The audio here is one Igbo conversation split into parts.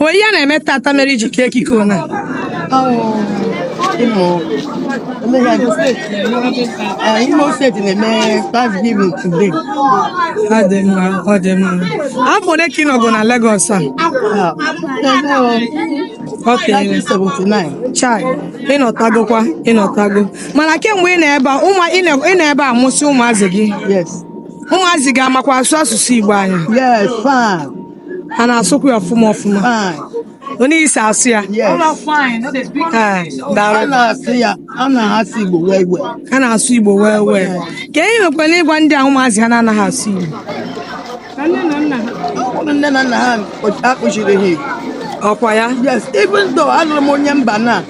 O nwe ihe na-eme tata mere i ji kee ekike ụna Imo steeti na-eme Thanksgiving today. Ọ dị mma, ọ dị mma. Afọ ole ka ị nọgụ na Legọs a? Ok. Chai, ịnọtagokwa, ịnọtago. Mana kemgbe ị nọ ebe a, ụmụ ị na- ị nọ ebe a mụsị ụmụazị gị. Yes. Ụmụazị gị amakwa asụ asụsụ Igbo anyị. Yes, fine. ha na-asụkwa ya ọfụma ọfụma otu i si asụ ya ha na-asụ igbo well well kee ihe i nwekwara ịgwa ndị a ụmụazị ha na-anaghị asụ igbo nne na nna ha akụzighịrị ha ọ kwa ya yes even though alụrụ m onye mba na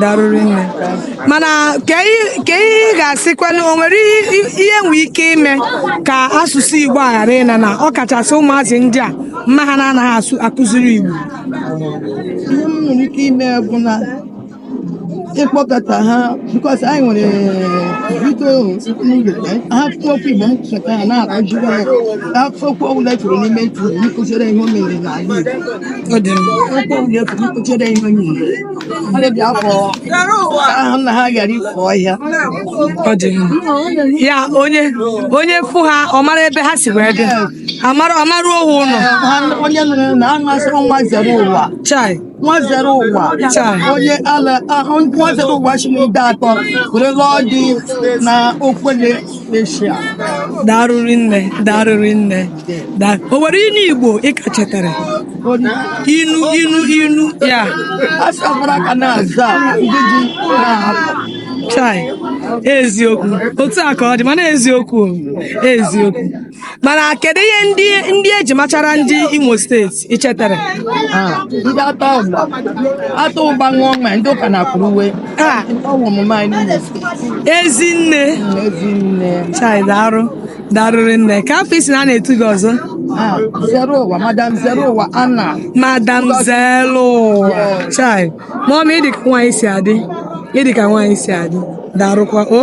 darụrị nne mana kee ihe ị ga-asịkwanụ o nwere ihe e nwere ike ime ka asụsụ igbo a ghara ịna na ọ kachasị ụmụazị ndị a mama ha na-anaghị akụziri igbo ihe m nwere ike ime bụ na ịkpọkọta ha because anyị nwere bido ha kwuo okwu igbo m cheta ha na-akụziri ha ka okwu ọbụla kwuru n'ime ntụrụ nkụziri ihe o mere n'ala igbo okwu ọbụla kwuru nkụziri ihe o mere ndị bịa afọ ahụ na ha ghara ifu ọhịa ọ dị mma. ya onye onye fụ ha ọ mara ebe ha si wee bịa amara amaruo ha ụlọ Ha onye nụrụ na a na-asịrị nwa zere ụwa chai nwa zere ụwa Chai. onye ala ahụ nwa zere ụwa si n'Ideatọ were lụọ di na Okwele darụrị nne darụrị nne o nwere inu igbo ị ka chetara inu inu inu ya chai eziokwu otu a ka ọ dị mana eziokwu eziokwu mana kedu ihe ndị ndị e ji machara ndị imo steeti i chetara ndị a taa ụgba a taa ụgba ṅụọ mmanya ndị ụka na-akwụrụ uwe Ah. ọ wụ omume anyị n'Imo steeti ezinne ezinne chai darụ darụrị nne kee afa ị sị na a na-etu gị ọzọ Ah, zere ụwa madam zere ụwa ana madam zelu chai mọmị ị dị ka nwaanyị si adị ị dị ka nwaanyị si adị darụkwa o